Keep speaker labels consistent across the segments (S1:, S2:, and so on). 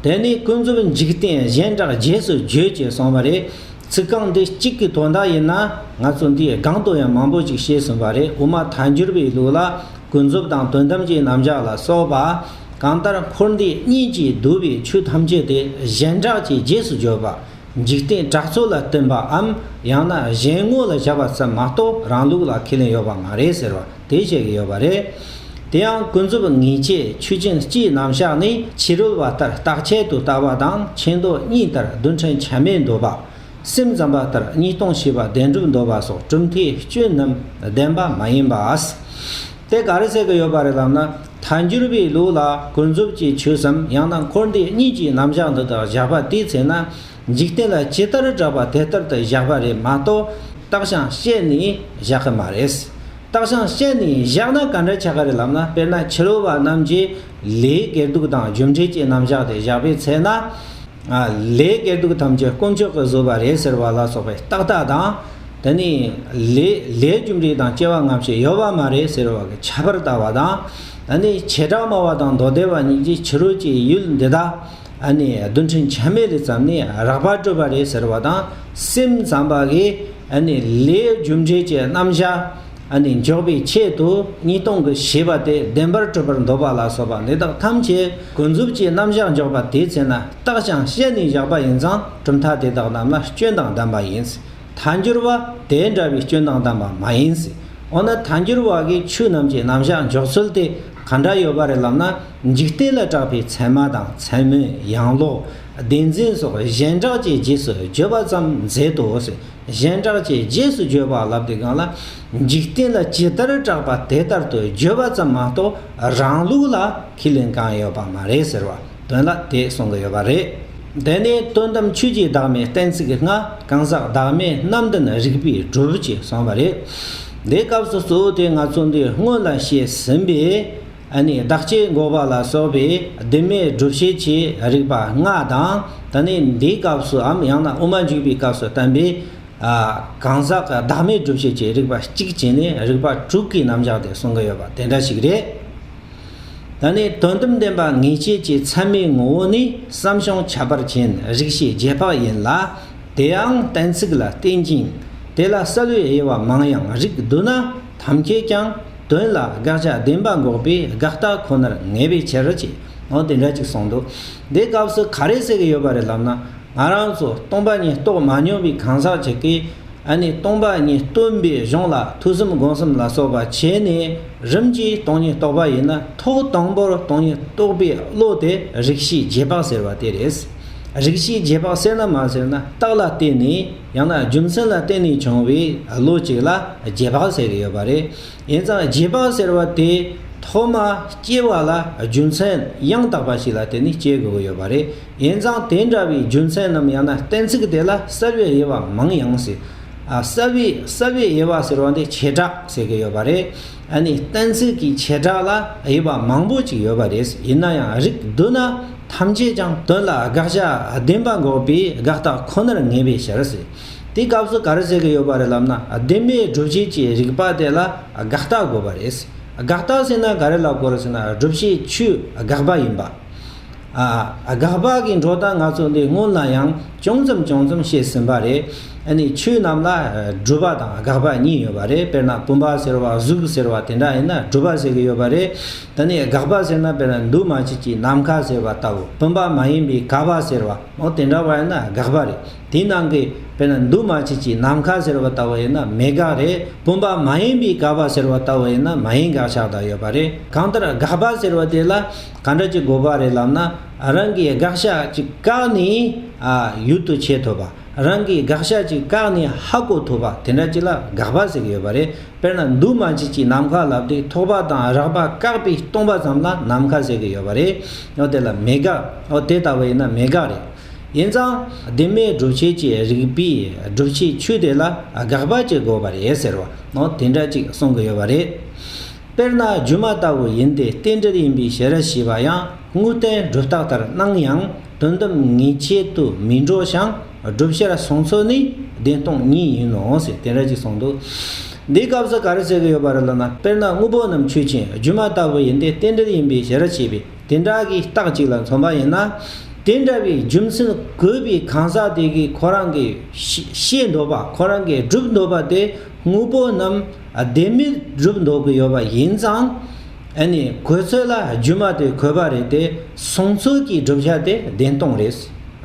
S1: དེ་ནས་ཀུན་རྫོབ་འཇིག་རྟེན་གཞན་དག་རྗེས་སུ་བརྗོད་ཅེས་གསུངས་པ་རེད། ཚིག་རྐང་འདི་གཅིག་གི་དོན་དག་ཡིན་ན་ང་ཚོས་འདིའི་སྒང་དུ་ཡང་མང་པོ་ཅིག་བཤད་ཟིན་པ་རེད་འོ་མ་དལ་འགྱུར་བའི་ལུགས་ལ་ཀུན་རྫོབ་དང་དོན་དམ་གྱི་རྣམ་གཞག་ལ་སོགས་པ། གང་ལྟར་འཁོར་འདས་གཉིས་ཀྱིས་བསྡུས་པའི་ཆོས་ཐམས་ཅད་དེ་གཞན་གྲགས་ཀྱིས་རྗེས་སུ་བརྗོད་པ། འཇིག་རྟེན་གྲགས་ཚོགས་ལ་བསྟུན་པའམ་ཡང་ན་གཞན་དངོས་ལ་བཞག་པ་ཙམ་མ་གཏོགས་རང་ལུགས་ལ་ཁས་ལེན་ཡོད་པ་མ་རེད་ཟེར་བ་དེ་བཤད་ཀྱི་ཡོད་པ་རེད། དེ་ཡང་ཀུན་རྫོབ་ངེས་འབྱེད་ཆོས་ཅན་སྤྱིའི་རྣམ་གཞག་ནི་ཕྱི་རོལ་བ་ལྟར་རྟག་ཆད་དུ་ལྟ་བ་དང་ཕྱི་མདོ་གཉིས་ལྟར་རྡུལ་ཕྲན་ཆ་མེད་འདོད་པ། སེམས་ཙམ་པ་ལྟར་གཉིས་སྟོང་ཞེས་པ་བདེན་གྲུབ་འདོད་པ་སོགས་གྲུབ་མཐའི་སྐྱོན་རྣམས་བདེན་པ་མ་ཡིན་པ། དེ་ག་རེ་བཤད་ཀྱི་ཡོད་པ་རེད་ལབ་ན་ཐ་འགྱུར་བའི་ལུགས་ལ་ཀུན་རྫོབ་ཀྱི་ཆོས་སམ་ཡང་ན་འཁོར་འདས་གཉིས་ཀྱི་རྣམ་གཞག་འདི་དག་བཞག་པ་དེའི་ཚེ་ན། འཇིག་རྟེན་ལ་ཇི་ལྟར་བསྒྲགས་པ་དེ་ལྟར་དུ་བཞག་པ་རེད་མ་གཏོགས་རྟགས་བྱང་བཤད་ནས་བཞག་གི་མ་རེད། རྟགས་བྱང་བཤད་ནས་བཞག་ན་ག་འདྲ་ཆགས་ཀ་རེད་ལབ་ན་དཔེར་ན་ཕྱི་རོལ་བ་རྣམས་ཀྱིས་ལས་དགེ་སྡུག་དང་རྒྱུ་འབྲས་ཀྱི་རྣམ་གཞག་དེ་བཞག་པའི་ཚེ་ན། ལས་དགེ་སྡུག་ཐམས་ཅད་དཀོན་མཆོག་གིས་བཟོས་པ་རེད་ཟེར་བ་ལ་སོགས་པའི་རྟགས་དག་དང། དེ་ནས་ལས་ལས་རྒྱུ་འབྲས་དང་སྐྱེ་བ་སྔ་ཕྱི་ཡོད་པ་མ་རེད་ཟེར་བ་གྱི་ཁྱད་པར་ལྟ་བ་དང། དེ་ནས་བྱེ་བྲག་སྨྲ་བ་དང་མདོ་སྡེ་བ་གཉིས་ཀྱིས་ཕྱི་རོལ་གྱི་ཡུལ་འདི་དག་རྡུལ་ཕྲན་ཆད་མེད་ལས་བརྩམས་ནས་རགས་པ་སྤྲོས་པ་རེད་ཟེར་བ་དང་སེམས་ཙམ་པ་གིས་ལས་རྒྱུ་འབྲས་ཀྱི་རྣམ་གཞག་འཇོག་པའི་ཆེད་དུ་གཉིས་སྟོང་གི་ཞེས་པ་དེ་བདེན་པར་སྤྲོས་པར་འདོད་པ་ལ་སོགས་པ་འདི་དག་ཐམས་ཅད་ཀུན་རྫོབ་ཀྱི་རྣམ་གཞག་འཇོག་པ་དེའི་ཚེ་ན་རྟགས་ཀྱང་བཤད་ནས་བཞག་པ་ཡིན་ཙང་གྲུབ་མཐའ་དེ་དག་རྣམས་ལ་སྐྱོན་དང་ལྡན་པ་ཡིན། ཐ་འགྱུར་བ་དེ་འདྲ་བའི་སྐྱོན་དང་ལྡན་པ་མ་ཡིན་སྲིད། འོ་ན་ཐ་འགྱུར་བ་གའི་ཆོས་རྣམས་ཀྱི་རྣམ་གཞག་འཇོག་ཚུལ་དེ་ག་འདྲ་ཡོད་པ་རེད་ལབ་ན་འཇིག་རྟེན་ལ་གྲགས་པའི་མཚན་མ་དང་མཚན་མོའི་ཡང་ལོག་བདེན་འཛིན་སོགས་གཞན་གྲགས་ཀྱི་རྗེས་སུ་བརྗོད་པ་ཙམ་མཛད་དོ། གཞན་གྲགས་ཀྱི་རྗེས་སུ་བརྗོད་པ་ལབ་དེ་གང་ལ་འཇིག་རྟེན་ལ་ཇི་ལྟར་གྲགས་པ་དེ་ལྟར་དུ་བརྗོད་པ་ཙམ་མ་གཏོགས་རང་ལུགས་ལ་ཁས་ལེན་གང་ཡོད་པ་མ་རེད་ཟེར་བ། དོན་ལ་དེ་གསུང་གི་ཡོད་པ་རེད། དེ་ནས་དོན་དམ་ཆོས་ཀྱི་བདག་མེད་གཏན་ཚིགས་ལྔ་གང་ཟག་བདག་མེད་རྣམ་འདྲེན་རིག་པའི་གྲུབ་ཅེས་གསུངས་པ་རེད། འདིའི་སྐབས་སུ་གཙོ་བོ་དེ་ང་ཚོ་འདིར་སྔོན་ལ་བཤད་ཟིན་པའི། ནི་བདག་ཅེས་འགོག་པ་ལ་སོགས་པའི་བདེན་མེད་བསྒྲུབ་བྱེད་ཀྱི་རིགས་པ་ལྔ་དང། ད་ནི་འདིའི་སྐབས་སུ་འམ་ཡང་ན་དབུ་མ་འཇུག་པའི་སྐབས་སུ་བསྟན་པའི། གང་ཟག་བདག་མེད་བསྒྲུབ་བྱེད་ཀྱི་རིགས་པ་གཅིག་བྱས་ནས་རིགས་པ་དྲུག་གི་རྣམ་གཞག་དེ་གསུང་གི་ཡོད་པ་དེ་འདྲ་ཞིག་རེད། ད་ནི་དོན་དམ་བདེན་པ་ངེས་བྱེད་ཀྱི་མཚན་མའི་ངོ་བོ་ནི་བསམ་བྱུང་ཁྱད་པར་ཅན་རིག་བྱེད་རྗེས་དཔག་ཡིན་ལ། དེའང་གཏན་ཚིགས་ལ་བརྟེན་ཅིང་དེ་ལ་གསལ་བའི་དབྱེ་བ་མང་ཡང་རིགས་བསྡུ་ན་ཐམས་ཅད་ཀྱང་དོན་ལ་དགག་བྱ་བདེན་པ་འགོག་པའི་དགག་རྟགས་ཁོ་ནར་ངེས་པའི་ཕྱིར། འོ་དེ་འདྲ་ཅིག་གསུངས་འདུག་འདི་སྐབས་སུ་ག་རེ་ཟེར་གྱི་ཡོད་པ་རེད་ལབ་ན། ང་རང་ཚོ་སྟོང་པ་ཉིད་རྟོགས་མ་མྱོང་པའི་གང་ཟག་ཅིག་གིས། ཨ་ནི་སྟོང་པ་ཉིད་སྟོན་པའི་གཞུང་ལ་ཐོས་བསམ་སྒོམ་གསུམ་ལ་སོགས་པ་བྱས་ནས་རིམ་གྱིས་སྟོང་ཉིད་རྟོགས་པ་ཡིན་ན་ཐོག་དང་པོར་སྟོང་ཉིད་རྟོགས་པའི་བློ་དེ་རིག་བྱེད་རྗེས་དཔག་ཟེར་བ་དེ་རེད། རིག་བྱེད་རྗེས་དཔག་ཟེར་ན་མ་ཟེར་ན་རྟགས་ལ་བརྟེན་ནས་ཡང་ན་རྒྱུ་མཚན་ལ་བརྟེན་ནས་བྱུང་བའི་བློ་གཅིག་ལ་རྗེས་དཔག་ཟེར་གྱི་ཡོད་པ་རེད། ཡིན་ཙང་རྗེས་དཔག་ཟེར་བ་དེ་ཐོག་མ་སྐྱེ་བ་ལ་རྒྱུ་མཚན་ཡང་དག་པ་ཞིག་ལ་བརྟེན་ནས་སྐྱེ་དགོས་ཀྱི་ཡོད་པ་རེད། ཡན་ཙང་དེ་འདྲ་བའི་རྒྱུ་མཚན་རྣམས་ཡང་ན་གཏན་ཚིགས་དེ་ལ་གསལ་བའི་དབྱེ་བ་མང་ཡང་སྲིད། གསལ་བའི་གསལ་བའི་དབྱེ་བ་ཟེར་བ་འདི་བྱེ་བྲག་ཟེར་གྱི་ཡོད་པ་རེད། ཨ་ནི་གཏན་ཚིགས་ཀྱི་བྱེ་བྲག་ལ་དབྱེ་བ་མང་པོ་ཅིག་ཡོད་པ་རེད། ཡིན་ན་ཡང་རིགས་བསྡུ་ན་ཐམས་ཅད་ཀྱང་དོན་ལ་དགག་བྱ་བདེན་པ་འགོག་པའི་དགག་རྟགས་ཁོ་ནར་ངེས་པའི་ཕྱིར། དེའི་སྐབས་སུ་གར་བྱེད་ཀྱི་ཡོད་པ་རེད་ལབ་ན་བདེན་པའི་སྒྲུབ་བྱེད་ཀྱི་རིགས་པ་དེ་ལ་དགག་རྟགས་དགོས་པ་རེད། དགག་རྟགས་ཟེར་ན་ག་རེ་ལ་གོ་རེ་ཟེར་ན་སྒྲུབ་བྱེད་ཆུའི་དགག་པ་ཡིན་པ། དགག་པ་གི་འགྲོ་སྟངས་ང་ཚོ་འདི་སྔོན་ལ་ཡང་ཅུང་ཙམ་ཅུང་ཙམ་བཤད་ཟིན་པ་རེད། ནི་ཆོས་རྣམས་ལ་སྒྲུབ་པ་དང་དགག་པ་གཉིས་ཡོད་པ་རེད་དཔེར་ན་བུམ་པ་ཟེར་བ་གཟུགས་ཟེར་བ་དེ་འདྲ་ཡིན་ན་སྒྲུབ་པ་ཟེར་གྱི་ཡོད་པ་རེད། ད་ནི་དགག་པ་ཟེར་ན་དཔེར་ན་འདུས་མ་བྱས་ཀྱི་ནམ་མཁའ་ཟེར་བ་ལྟ་བུ་བུམ་པ་མ་ཡིན་པའི་ག་བ་ཟེར་བ་མོ་དེ་འདྲ་བ་ཡིན་ན་དགག་པ་རེད་དེའི་ནང་གི་དཔེར་ན་འདུས་མ་བྱས་ཀྱི་ནམ་མཁའ་ཟེར་བ་ལྟ་བུ་ཡིན་ན་མེད་དགག་རེད་བུམ་པ་མ་ཡིན་པའི་ག་བ་ཟེར་བ་ལྟ་བུ་ཡིན་ན་མ་ཡིན་དགག་ཆགས་དག་ཡོད་པ་རེད་གང་ལྟར་དགག་པ་ཟེར་བ་དེ་ལ། གང་འདྲ་ཅིག་དགོས་པ་རེད་ལབ་ན་རང་གིས་དགག་བྱ་ཅིག་བཀག་ནས་ཡུལ་དུ་བྱེད་ཐུབ་པ། རང་གིས་དགག་བྱ་ཅིག་བཀག་ནས་ཧ་གོ་ཐུབ་པ་དེ་འདྲ་ཅིག་ལ་དགག་པ་ཟེར་གྱི་ཡོད་པ་རེད། དཔེར་ན་འདུག་མ་བྱས་ཀྱི་ནམ་མཁའ་ལབ་སྟེ་ཐོགས་པ་དང་རགས་པ་བཀག་པའི་སྟོང་པ་ཙམ་ལ་ནམ་མཁའ་ཟེར་གྱི་ཡོད་པ་རེད། དེ་ལ་མེད་དགག་དེ་ལྟ་བུ་ཡིན་ན་མེད་དགག་རེད། ཡིན་ཙང་བདེན་མེད་སྒྲུབ་བྱེད་ཀྱི་རིགས་པའི་སྒྲུབ་བྱེད་ཆོས་དེ་ལ་དགག་པ་ཅིག་དགོས་པ་རེད་ཟེར་བ་དེ་འདྲ་ཅིག་གསུང་གི་ཡོད་པ་རེད། དཔེར་ན་སྒྱུ་མ་ལྟ་བུ་ཡིན་ཏེ་རྟེན་འབྲེལ་ཡིན་པའི་ཞལ་ཞེས་པ་ཡང་དངོས་བསྟན་སྒྲུབ་རྟགས་ལྟར་སྣང་ཡང་དོན་དམ་ངེས་བྱེད་དུ་མི་འགྲོ་ཞིང་བསྒྲུབ་བྱར་བཟུང་ཚུལ་ནི་བདེན་སྟོང་ཉིད་ཡིན་ནོ་ཞེས་དེ་འདྲ་ཅིག་གསུངས་འདུག་འདིའི་སྐབས་སུ་ག་རེ་བྱེད་ཀྱི་ཡོད་པ་རེད་ལབ་ན་དཔེར་ན་དངོས་པོ་རྣམས་ཆོས་ཅན་སྒྱུ་མ་ལྟ་བུ་ཡིན་ཏེ་རྟེན་འབྲེལ་ཡིན་པའི་ཞལ་ཞེས་པའི་དེ་འདྲ་གི་རྟགས་གཅིག་ལ་མཚོན་པ་ཡིན་ན་དེ་འདྲ་བའི་རྒྱུ་མཚན་གོ་བའི་གང་ཟག་དེ་གིས་ཁོ་རང་གིས་ཤེས་འདོད་པ་ཁོ་རང་གིས་བསྒྲུབ་འདོད་པ་དེ་དངོས་པོ་རྣམས་བདེན་མི་སྒྲུབ་འདོད་ཀྱི་ཡོད་པ་ཡིན་ཙང། ཨ་ནི་གོས་ཚོད་ལ་རྒྱུ་མ་དེ་གོས་པ་རེད་དེ་གསུང་ཚུལ་གྱི་བསྒྲུབ་བྱ་དེ་བདེན་སྟོང་རེད།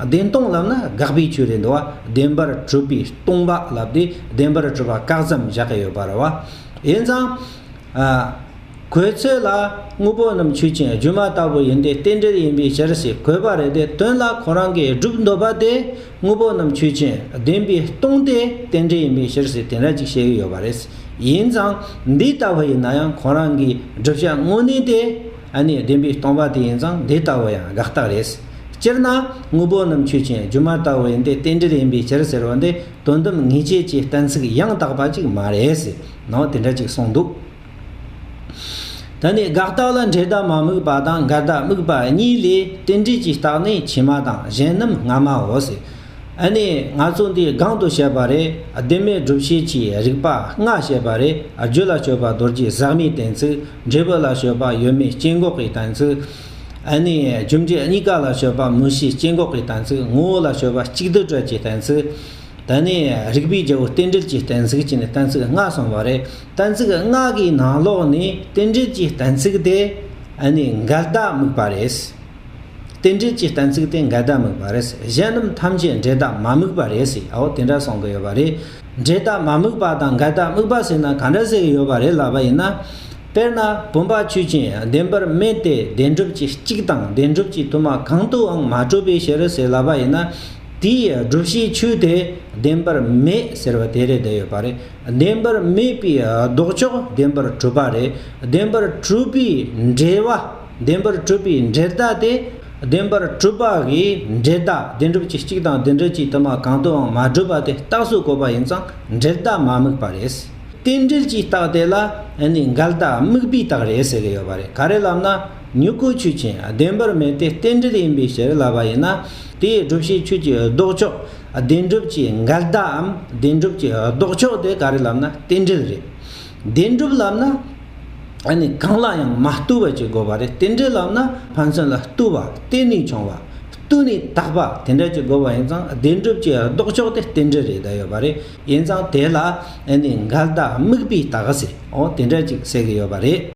S1: བདེན་སྟོང་ལབ་ན་དགག་པའི་ཆོས་རེད་འདུག་བདེན་པར་གྲུབ་པའི་སྟོང་པ་ལབ་དུས་བདེན་པར་གྲུབ་པ་བཀག་ཙམ་བཞག་གི་ཡོད་པ་རེད་བ། ཡིན་ཙང། གོས་ཚོད་ལ་དངོས་པོ་རྣམས་ཆོས་ཅན་སྒྱུ་མ་ལྟ་བུ་ཡིན་ཏེ་རྟེན་འབྲེལ་ཡིན་པའི་ཕྱིར་ཞེས་གོས་པ་རེད་དེ་དོན་ལ་ཁོ་རང་གིས་སྒྲུབ་འདོད་པ་དེ་དངོས་པོ་རྣམས་ཆོས་ཅན་བདེན་པའི་སྟོང་སྟེ་རྟེན་འབྲེལ་ཡིན་པའི་ཕྱིར་ཟེར་དེ་འདྲ་ཅིག་བཤད་ཡུལ་ཡོད་པ་རེད། ཡིན་ཙང་འདི་ལྟ་བུ་ཡིན་ན་ཡང་ཁོང་རང་གི་བསྒྲུབ་བྱ་དངོས་གནས་དེ་ནི་བདེན་པའི་སྟོང་པ་དེ་ཡིན་ཙང་འདི་ལྟ་བུ་ཡང་དགག་རྟགས་རེད། སྤྱིར་ན་དངོས་པོ་རྣམས་ཆོས་ཅན་སྒྱུ་མ་ལྟ་བུ་ཡིན་ཏེ་རྟེན་འབྲེལ་ཡིན་པའི་ཕྱིར་ཟེར་བ་འདི་དོན་དམ་ངེས་བྱེད་ཀྱི་གཏན་ཚིགས་ཡང་དག་པ་ཅིག་མ་རེད། ནང་དེ་འདྲ་ཅིག་གསུངས་འདུག། ད་ནི་དགག་རྟགས་ལ་འབྲས་རྟགས་མ་དམིགས་པ་དང་འགལ་རྟགས་དམིགས་པ་གཉིས་ལས་རྟེན་འབྲེལ་གྱི་རྟགས་ནི་ཕྱི་མ་དང་གཞན་རྣམས་སྔ་མའོ། ཨ་ནི་ང་ཚོ་འདི་སྒང་དུ་བཤད་པ་རེད་བདེན་མེད་སྒྲུབ་བྱེད་ཀྱི་རིགས་པ་ལྔ་བཤད་པ་རེད་རྒྱུ་ལ་སྤྱོད་པ་རྡོ་རྗེ་ཟག་མེད་གཏན་ཚིགས་འབྲས་བུ་ལ་སྤྱོད་པ་ཡོད་མེད་སྐྱེ་འགོག་གི་གཏན་ཚིགས། ཨ་ནི་རྒྱུ་འབྲས་གཉིས་ཀ་ལ་སྤྱོད་པ་མུ་བཞི་སྐྱེ་འགོག་གི་གཏན་ཚིགས་ངོ་བོ་ལ་སྤྱོད་པ་གཅིག་དུར་ཁྲོད་ཀྱི་གཏན་ཚིགས། ད་ནི་རིགས་པའི་རྒྱལ་པོ་རྟེན་འབྲེལ་གྱི་གཏན་ཚིགས་ཀྱི་ནི་གཏན་ཚིགས་ལྔ་གསུངས་པ་རེད་གཏན་ཚིགས་སྔགས་ཀྱི་ནང་ལོགས་ནི་རྟེན་འབྲེལ་གྱི་གཏན་ཚིགས་ཏེ། ནི་འགལ་ཟླ་དམིགས་པ་རེད། རྟེན་འབྲེལ་གྱི་གཏན་ཚིགས་ཏེ་འགལ་ཟླ་དམིགས་པ་རེད། གཞན་རྣམས་ཐམས་ཅད་འབྲེལ་ཟླ་མ་དམིགས་པ་རེད་ཟེར། འོ་དེ་འདྲ་གསུང་གི་ཡོད་པ་རེད། འབྲེལ་ཟླ་མ་དམིགས་པ་དང་འགལ་ཟླ་དམིགས་པ་ཟེར་ན་ག་འདྲ་ཟེར་གི་ཡོད་པ་རེད་ལབ་པ་ཡིན་ན། དཔེར་ན་བུམ་པ་ཆུ་ཅན་བདེན་པར་སྨྲས་ཏེ་བདེན་གྲུབ་ཀྱི་གཅིག་དང་བདེན་གྲུབ་ཀྱི་དུ་མ་གང་དུའང་མ་གྲུབ་པའི་ཕྱིར་ཟེར་ལབ་པ་ཡིན་ན། དེའི་བསྒྲུབ་བྱའི་ཆོས་དེ་བདེན་པར་མེད་ཟེར་བ་དེ་རེད་བསྡད་ཡོད་པ་རེད། བདེན་པར་སྨྲས་པའི་ལྡོག་ཕྱོགས་བདེན་པར་གྲུབ་པ་རེད། བདེན་པར་གྲུབ་པའི་འགྲེལ་བ། བདེན་པར་གྲུབ་པའི་འགྲེལ་བརྡ་སྟེ། བདེན་པར་གྲུབ་པ་འི་འགྲེལ་བརྡ་བདེན་གྲུབ་ཀྱི་གཅིག་དང་བདེན་གྲུབ་ཀྱི་དུ་མ་གང་དུའང་མ་གྲུབ་པ་དེ་རྟགས་སུ་གོ་བ་ཡིན་ཙང་འགྲེལ་བརྡ་མ་དམིགས་པ་རེད། རྟེན་འབྲེལ་གྱི་རྟགས་དེ་ལ་ནི་འགལ་རྟགས་དམིགས་པའི་རྟགས་རེད་ཟེར་གྱི་ཡོད་པ་རེད། ག་རེ་ལབ་ན། མྱུ་གུ་ཆོས་ཅན་བདེན་པར་སྨྲས་ཏེ་རྟེན་འབྲེལ་ཡིན་པའི་ཕྱིར་ལབ་པ་ཡིན་ན། དེའི་སྒྲུབ་བྱེད་ཆོས་ཀྱི་ལྡོག་ཕྱོགས་བདེན་གྲུབ་ཀྱི་འགལ་ཟླའམ་བདེན་གྲུབ་ཀྱི་ལྡོག་ཕྱོགས་དེ་ག་རེ་ལབ་ན་རྟེན་འབྲེལ་རེད། བདེན་གྲུབ་ལབ་ན། ཨ་ནི་གང་ལ་ཡང་མ་བལྟོས་པ་ཅིག་དགོས་པ་རེད་རྟེན་འབྲེལ་ལབ་ན་ཕན་ཚུན་ལ་བལྟོས་པ་བལྟས་ནས་བྱུང་བ། བལྟོས་ནས་བཏགས་པ་དེ་འདྲ་ཅིག་དགོས་པ་ཡིན་ཙང་བདེན་གྲུབ་ཀྱི་ལྡོག་ཕྱོགས་དེ་རྟེན་འབྲེལ་རེད་བསྡད་ཡོད་པ་རེད་ཡིན་ཙང་དེ་ལ་ཨ་ནི་འགལ་ཟླ་དམིགས་པའི་ལྟ་ག་ཟེར་འོང་དེ་འདྲ་ཅིག་བསལ་གི་ཡོད་པ་རེད།